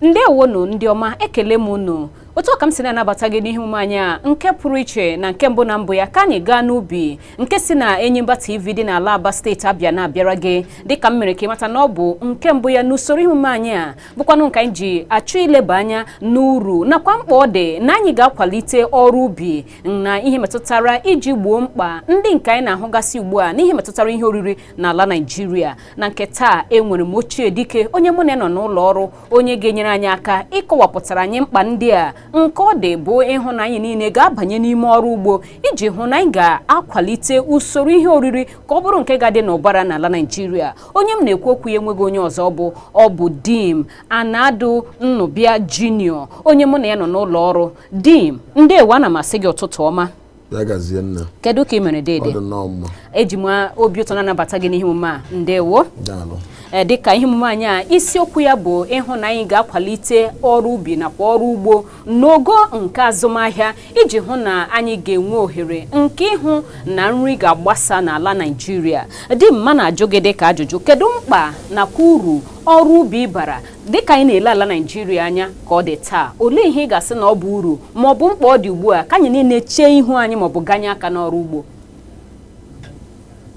ndewonu ndị ọma ekele m unu otu a ka m si na-anabata gị n'ihe omume anyị a nke pụrụ iche na nke mbụ na mbụ ya ka anyị gaa n'ubi nke si na Enyimba TV dị n'ala Aba steeti Abịa na-abịara gị dịka m mere ka ị mata na ọ bụ nke mbụ ya n'usoro ihe omume anyị a bụkwanụ nke anyị ji achọ ileba anya n'uru nakwa mkpa ọ dị na anyị ga-akwalite ọrụ ubi na ihe metụtara iji gboo mkpa ndị nke anyị na-ahụgasị ugbu a n'ihe metụtara ihe oriri n'ala Naịjirịa na nke taa enwere m ochie dike onye mụ na ya nọ n'ụlọ ọrụ onye ga-enyere anyị aka ịkọwapụtara anyị mkpa ndị a nke ọ dị bụ ịhụ na anyị niile ga-abanye n'ime ọrụ ugbo iji hụ na anyị ga-akwalite usoro ihe oriri ka ọ bụrụ nke ga-adị n'ụbara n'ala Naịjirịa onye m na-ekwu okwu ya enweghị onye ọzọ ọ bụ ọ bụ Dim Anadu Nnubia Junior onye mụ na ya nọ n'ụlọ ọrụ Dim ndewo ana m asị gị ụtụtụ ọma ya gazie nna kedu ka ị mere dede ọ dị nnọọ mma eji m obi ụtọ na-anabata gị n'ihe omume a ndewo daalụ ee dịka ihe omume anyị a isiokwu ya bụ ịhụ na anyị ga-akwalite ọrụ ubi nakwa ọrụ ugbo n'ogo nke azụmahịa iji hụ na anyị ga-enwe ohere nke ịhụ na nri ga-agbasa n'ala Naịjirịa Dim m na-ajụ gị dịka ajụjụ kedu mkpa nakwa uru ọrụ ubi bara dịka anyị na-ele ala Naịjirịa anya ka ọ dị taa olee ihe ị ga-asị na ọ bụ uru ma ọ bụ mkpa ọ dị ugbu a ka anyị niile chee ihu anyị ma ọ bụ ganye aka n'ọrụ ugbo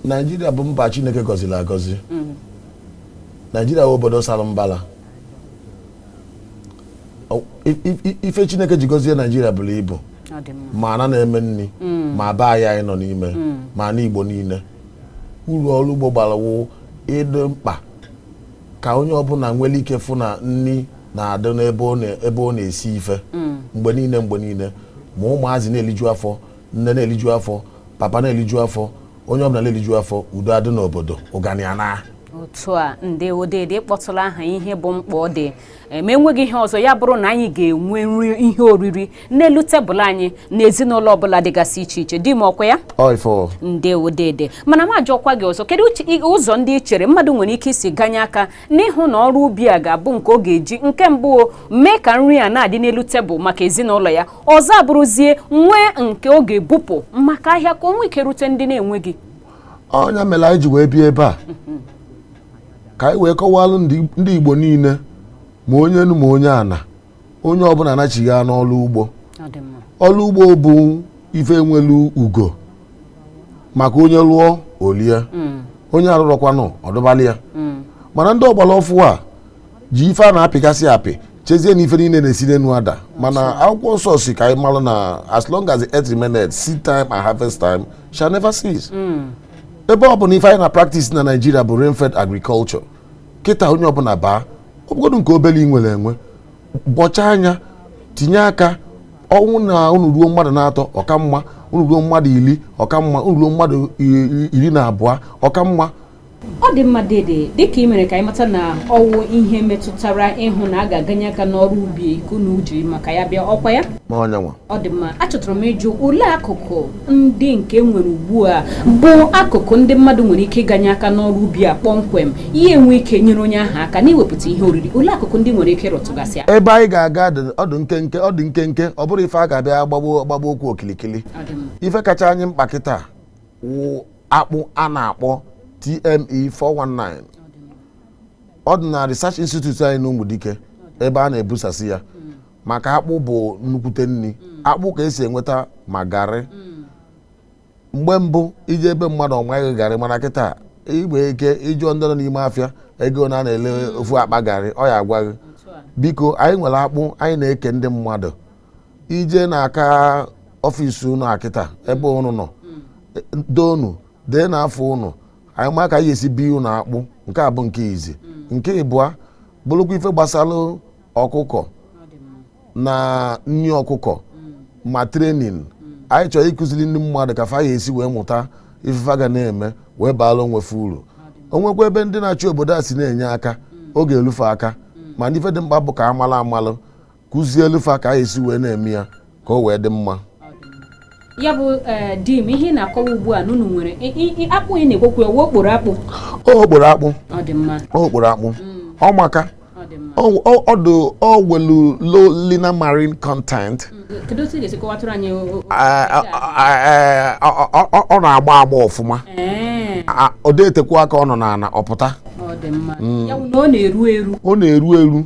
Naịjirịa bụ mba Chineke gọzili agọzi mm. Naịjirịa bụ obodo sara mbala O- i- i- i- ife chineke ji gọzie naijiria bulu ibu ọ dị mma ma ana na-eme nni ma be anyị anyị nọ n'ime ma ana igbo niile uru ọrụ ugbo bara wụ ịdị mkpa ka onye ọbụna nwelu ike fụ na nni na-adị n'ebe ọ na- ebe ọ na-esi ife mgbe niile mgbe niile ma ụmụazị na-eliju afọ nne na-eliju afọ papa na-eliju afọ onye ọbụna na-eliju afọ udo adị n'obodo ụganị anaa otu a ndewo dede kpọtụla aha ihe bụ mkpa ọ dị ma enweghị ihe ọzọ ya bụrụ na anyị ga-enwe nri ihe oriri n'elu tebụl anyị na ezinụlọ ọbụla dịgasị iche iche Dim ọkwa ya ndewo dede mana m ajụọkwa gị ọzọ kedu ụzọ ndị i chere mmadụ nwere ike isi ganye aka n'ịhụ na ọrụ ubi a ga-abụ nke ọ ga-eji nke mbụ mee ka nri a na-adị n'elu tebụl maka ezinụlọ ya ọzọ abụrụzie nwee nke ọ ga-ebupụ maka ahịa ka o nwee ike rute ndị na-enweghị ọ nya melu anyị ji wee bịa ebe a ka anyị wee kọwalụ ndị ndị igbo niine ma onye enu ma onye ana onye ọbụna anachigha n'ọlụ ugbo Ọ dị mma. ọlụ ugbo bụ ife nwelu ugo maka onye lụọ o lie Mm, onye arụrọkwanụ ọ dụbalị ya mm, mana ndị ọgbala ọfụụ a ji ife a na-apịgasị apị chezie na ife niile na-esi n'enu ada mana akwụkwọ nsọ sị ka anyị malụ na as long as the earth remaineth seed time and harvest time shall never cease hmm. ebe ọ bụ na ife anyị na practice na Nigeria bụ rainfed agriculture kịta onye ọbụla baa ọ bụgodu nke obele i nwere enwe bọcha anya tinye aka ọnwụ na unu ruo mmadụ na-atọ ọ ka mma unu ruo mmadụ iri ọ ka mma unu ruo mmadụ iri na abụọ ọ ka mma ọ dị mma dede dịka i mere ka anyị mata na ọ wụ ihe metụtara ịhụ na a ga-aganye aka n'ọrụ ubi ka unu jiri maka ya bịa ọ kwa ya ọ nyanwa ọ dị mma achọtụrụ m ịjụ olee akụkụ ndị nke nwere ugbu a bụ akụkụ ndị mmadụ nwere ike ịganye aka n'ọrụ ubi a kpọmkwem ya enwe ike nyere onye ahụ aka n'iwepụta ihe oriri olee akụkụ ndị i nwere ike ịrụtụgasị aka ebe anyị ga-aga ọ dị nkenke ọ bụrọ ife a ga-abịa gbagbo okwu okilikili ife kacha anyị mkpa kịta akpụ a na-akpọ TME 419 ọ dị na Research Institute anyị n'Ụmụdike ebe a na-ebusasị ya maka akpụ bụ nnukwute nri akpụ ka e si enweta ma garị mgbe mbụ i je be mmadụ ọ ma gị garị mana kịta igbe ike ị jụọ ndị nọ n'ime afịa ego one a na-ele ofu akpa garị ọ ya-agwa gị biko anyị nwere akpụ anyị na-eke ndị mmadụ i je n'aka ọfịs unu akịta ebe unu nọ doonu dee na afa unu anyị ma ka anyị esi bi unu akpụ nke a bụ nke izi nke ịbụa bụrụkwa ife gbasara ọkụkọ na nri ọkụkọ ma training anyị chọrọ ịkụziri ndị mmadụ ka fa ya-esi wee mụta ife fa ga na-eme wee baara onwe fa uru o nwekwa ebe ndị na-achị obodo a si na-enye aka oge elu fa aka mana ife dị mkpa bụ ka amala amalụ kụzielu fa ka anyị si wee na-eme ya ka o wee dị mma ya bụ eh, di m ihe ị na-akọwa ugbu a na unu nwere akpụ ị na-ekwekwu ọ wụ okporo akpụ okporo akpụ okporo akpụ mm. ọ maka o nwelu low linamarin content ọ na-agba agba ọfụma eh. ọ dịghị etekwu aka ọ nọ n'ana ọ pụta mm. ọ na-eru eru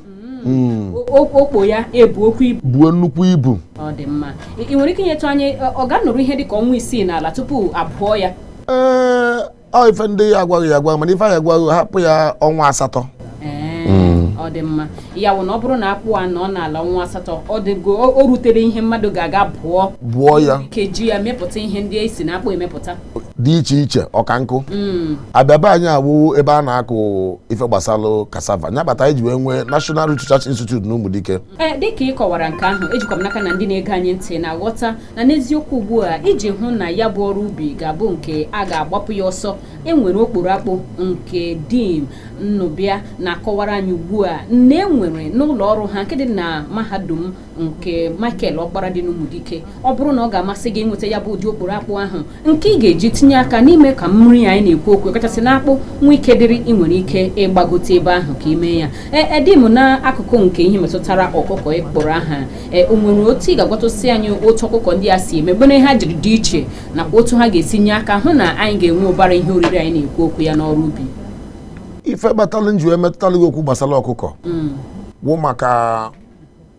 hmm. okpo ya ebuokwu ibu buo nnukwu ibu ọ dị mma i nwere ike inyetụ anyị ọ ga-anọrọ ihe dị ka ọnwa isii n'ala tupu a bụọ ya ee ọ ife ndị ya-agwa gị ya-agwa mana ife anyị ya-agwa gị hapụ ya ọnwa asatọ ọ dị mma ya wụ na ọ bụrụ na akpụ a nọ n'ala ọnwa asatọ ọ dịgo o rutere ihe mmadụ ga-aga bụọ bụọ ya ka e ji ya mepụta ihe ndị e si na akpụ emepụta dị iche iche ọkankụ mm. Abịa be anyị awụ ebe a na-akụ ife gbasalụ kasava nya kpata anyị ji wee nwee National Research Institute na Ụmụdike eh, dịka ị kọwara nke ahụ ejikwa m n'aka na ndị na-ege anyị ntị na-aghọta na n'eziokwu ugbu a iji hụ na ya bụ ọrụ ubi ga-abụ nke a ga-agbapụ ya ọsọ enwere okporo akpụ nke dim Nnụbịa na-akọwara anyị ugbu a na enwere n'ụlọ ọrụ ha nke dị na mahadum nke Michael Ọkpara dị n'Umudike ọ bụrụ na ọ ga-amasị gị ịnweta ya bụ ụdị okporo akpụ ahụ nke ị ga-eji tinye aka n'ime ka nri anyị na-ekwu okwu kachasị na akpụ nwee ike dịrị ị nwere ike ịgbagote ebe ahụ ka i mee ya e, e, dim n'akụkụ nke ihe metụtara ọkụkọ ịkpọrọ aha e, o nwere otu ị ga-agwatụsị anyị otu ọkụkọ ndị a si eme gịnị ha jiri dị iche nakwa otu ha ga-esi nye aka hụ na anyị ga-enwe ụbara ihe oriri anyị na-ekwu okwu ya n'ọrụ ubi ife kpatalụ m ji wee metụtalụ gị okwu gbasara ọkụkọ mm. wụ maka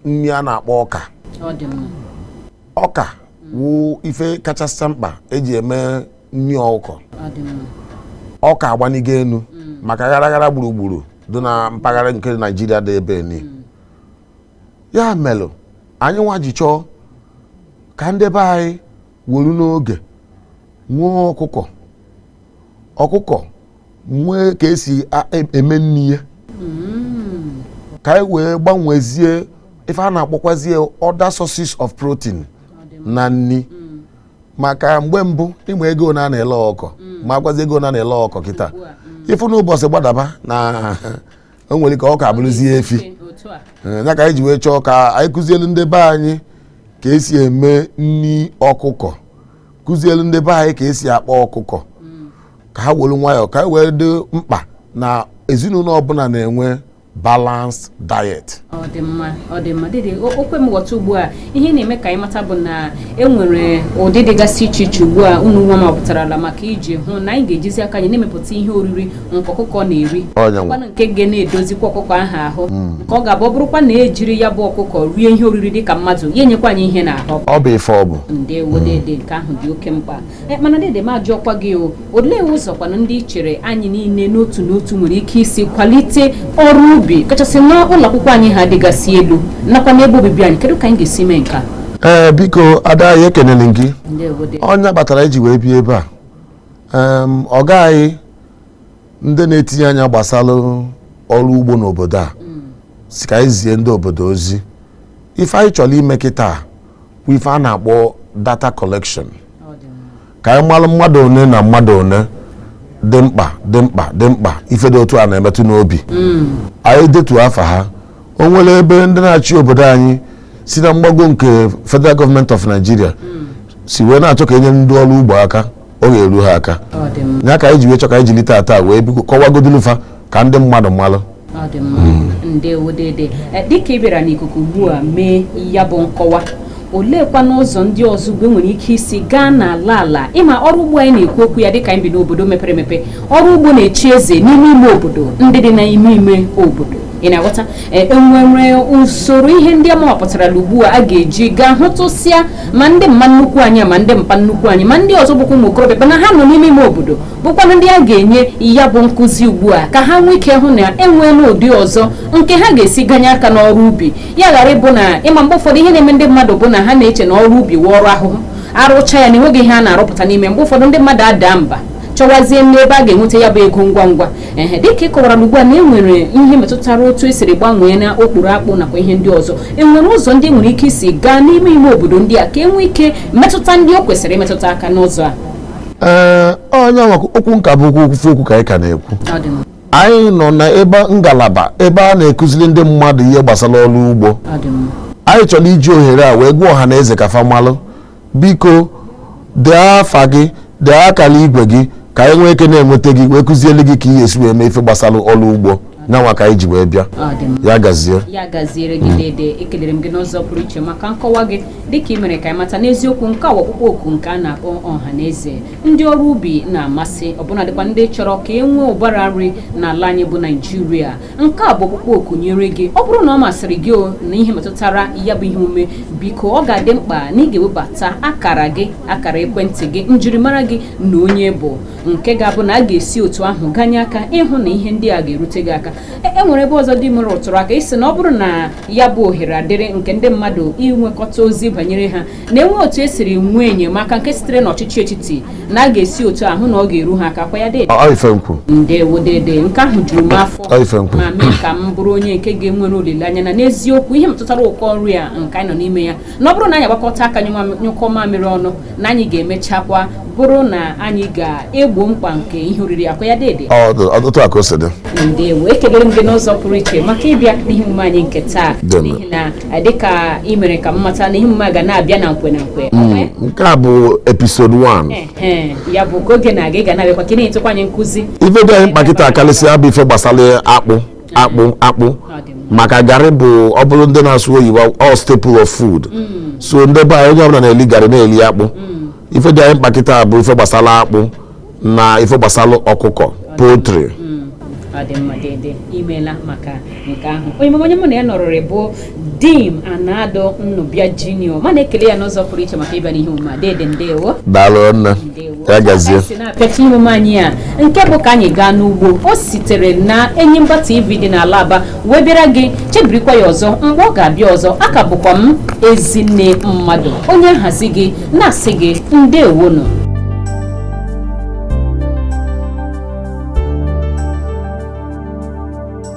nri a na-akpọ ọka ọka wụ ife kachasị mkpa eji eme nri ọkụkọ ọka agbanigo enu mm. maka gharaghara gburugburu dị na mpaghara nke Naijiria dị ebe ni mm. ya melụ anyị nwa ji chọọ ka ndị be anyị weru n'oge nwee ọkụkọ ọkụkọ nwee ka esi a- e- eme nri ya ka anyị wee gbanwezie ife a na-akpọkwazie other sources of protein na nri maka mgbe mbụ ịma ego ne a na-ele ọkụkọ makwazi ego ne a na-ele ọkụkọ kịta ị fụ n'ụbọchị gbadaba na o nwere ka ọka abụrụzie efi otu a Ee, ya ka anyị ji wee chọọ ka anyị kụzielu ndị be anyị ka esi eme nri ọkụkọ kụzielu ndị be anyị ka esi akpa ọkụkọ ka ha were nwayọọ ka anyị wee dị mkpa na ezinụlọ ọbụla na-enwe balanced diet ọ dị mma ọ dị mma dede o o kwe m ghọta ugbu a ihe ị na-eme ka anyị mata bụ na e nwere ụdị dịgasị iche iche ugbu a unu nwa mepụtarala maka iji hụ na anyị ga-ejizi aka anyị na-emepụta ihe oriri nke ọkụkọ na-eri kwanụ nke ga na-edozikwa ọkụkọ ahụ ahụ hmm. nke ọ ga-abụ ọ bụrụkwa na ejiri ya bụ ọkụkọ rie ihe oriri dị ka mmadụ ya enyekwa anyị ihe n'ahụ ọ bụ ife ọ bụ ndewo dede nke ahụ dị oke mkpa eh, mana dede m ajụọkwa gị o olee ụzọkwanụ ndị i chere anyị niile n'otu n'otu nwere ike isi kwalite ọrụ ubi kachasị n'ụlọ akwụkwọ anyị ha dịgasị elu nakwa n'ebe obibi anyị kedu ka anyị ga-esi mee nke a ee biko ada anyị ekenele m gị ndewo dede ọ nya kpatara m ji wee bịa ebe a em, ọga anyị ndị na-etinye anya gbasara ọrụ ugbo n'obodo a sị ka anyị zie ndị obodo ozi ife anyị chọrọ ime kịta wụ ife a na-akpọ data collection Ọ dị mma. ka anyị malụ mmadụ one na mmadụ one dị mkpa dị mkpa dị mkpa ife dị otu a na-emetụ n'obi anyị detuo afa ha o nwere ebe ndị na-achị obodo anyị si na mgbago nke federal government of nigeria si wee na-achọ ka enyere ndị ọrụ ugbo aka ọ ga-eru ha aka ya ka anyị ji wee chọ ka anyị jiri tata wee kọwagodulu fa ka ndị mmadụ malụ ọ dị mma hmm. ndewo dede eh, dịka ị bịara n'ikuku ugbu a mee ya bụ nkọwa oleekwa n'ụzọ ndị ọzọ ugbu a enwere ike isi gaa n'ala ala ịma ọrụ ugbo anyị na-ekwu okwu ya dịka anyị bi n'obodo mepere emepe ọrụ ugbo na-echi eze n'ime ime obodo ndị dị n'ime ime obodo ị na-aghọta e, enwere usoro ihe ndị ama wapụtarala ugbu a a ga-eji gaa hụtụsịa ma ndị mma nnukwu anyị ma ndị mpa nnukwu anyị ma ndị ọzọ bụkwa ụmụ okorobịa bụ na ha nọ n'ime ime obodo bụkwanụ ndị a ga-enye ya bụ nkụzi ugbu a ka ha nwee ike hụ na enweela ụdị ọzọ nke ha ga-esi ganye aka n'ọrụ ubi ya ghara ịbụ na ịma mgbe ụfọdụ ihe na-eme ndị mmadụ bụ na ha na-eche na ọrụ ubi wụ ọrụ ahụhụ arụcha ya na enweghị ihe a na-arụpụta n'ime mgbe ụfọdụ ndị mmadụ adaa mba chọwazie n'ebe a ga-enweta ya bụ ego ngwa ngwa ehe dịka ị kọwara ugbu a na e nwere ihe metụtara otu esiri gbanwee na okporo akpụ nakwa ihe ndị ọzọ e nwere ụzọ ndị nwere ike isi gaa n'ime ime obodo ndị a ka e nwee ike metụta ndị o kwesịrị imetụta aka n'ụzọ a ee ọ nyanwa okwu nka bụ okwu okwufe okwu ka anyị ka na-ekwu Ọ dị mma. anyị nọ na ebe ngalaba ebe a na-ekụziri ndị mmadụ ihe gbasara ọrụ ugbo Ọ dị mma. anyị chọrọ iji ohere a wee gwa ọha na eze ka fa malụ biko dee afa gị dee akara igwe gị ka anyị nwee ike na-enweta gị wee kụziele gị ka ị ga-esi wee mee ife gbasara ọrụ ugbo nyanwa ka anyị ji wee bịa Ọ dị mma. ya gazie ya gaziere gị dede ekelere m gị n'ụzọ pụrụ iche maka nkọwa gị dịka ị mere ka anyị mata n'eziokwu nke a bụ ọkpụkpọ oku nke a na-akpọ ọha na eze ndị ọrụ ubi na-amasị ọbụna dịkwa ndị chọrọ ka e nwee ụbara nri n'ala anyị bụ naịjirịa nke a bụ ọkpụkpọ oku nyere gị ọ bụrụ na ọ masịrị gị o na ihe metụtara ya bụ ihe omume biko ọ ga-adị mkpa na ị ga-ewebata akara gị akara ekwentị gị njirimara gị na onye ị bụ nke ga-abụ na a ga-esi otu ahụ ganye aka ịhụ na ihe ndị a ga-erute gị aka e, e nwere ebe ọzọ dede m ị rụtụrụ aka ị sị na ọ bụrụ na ya bụ ohere adịrị nke ndị mmadụ inwekọta ozi banyere ha na enwee otu esiri nwee enyemaka nke sitere n'ọchịchị etiti na a ga-esi otu ahụ na ọ ga-eru ha aka kwa ya dede ndewo dede nke ahụ juru m afọ ma mee ka m bụrụ onye nke ga-enwere olileanya na n'eziokwu ihe metụtara ụkọ nri a nke anyị nọ n'ime ya na ọ bụrụ na anyị agbakọta aka nyụkọ mamịrị ọnụ na anyị ga-emechakwa bụrụ na anyị ga-egbo mkpa nke ihe oriri ọkwa ya dede otu a ka o si dị ndewo ekelere m gị n'ụzọ pụrụ iche maka ịbịa n'ihe omume anyị nke taa n'ihi na eh, dịka ị mere ka m mata na ihe omume ga na-abịa na nkwe na nkwe hmm, eh? nke a bụ episode 1 eh, ya bụ ka oge na-aga ị ga na-abịakwa ka ị na-enyetụkwa anyị nkụzi ife dị anyị mkpa kịtaa karịsịa bụ ife gbasara akpụ akpụ akpụ maka garị bụ ọ bụrụ ndị na-asụ oyibo all staple of food mm. so ndị be anyị onye ọbụla na-eli garị na-eli akpụ mm. ife dị anyị mkpa kịta bụ ife gbasara akpụ na ife gbasara ọkụkọ poultry mm. ọ dị mma dede imela maka nke ahụ onye mụ na ya nọrọrị bụ Dim Anado Nnụbịa Junior ma na-ekele ya n'ụzọ pụrụ iche maka ịbịa n'ihe omume a dede ndewo daalụ nne ya gazie pịacha ihe omume anyị a nke bụ ka anyị gaa n'ugbo o sitere na Enyimba TV dị n'ala Aba wee bịara gị chebirikwa ya ọzọ mgbe ọ ga-abịa ọzọ a ka bụkwa m Ezinne Mmadụ onye nhazi gị na-asị gị ndewonụ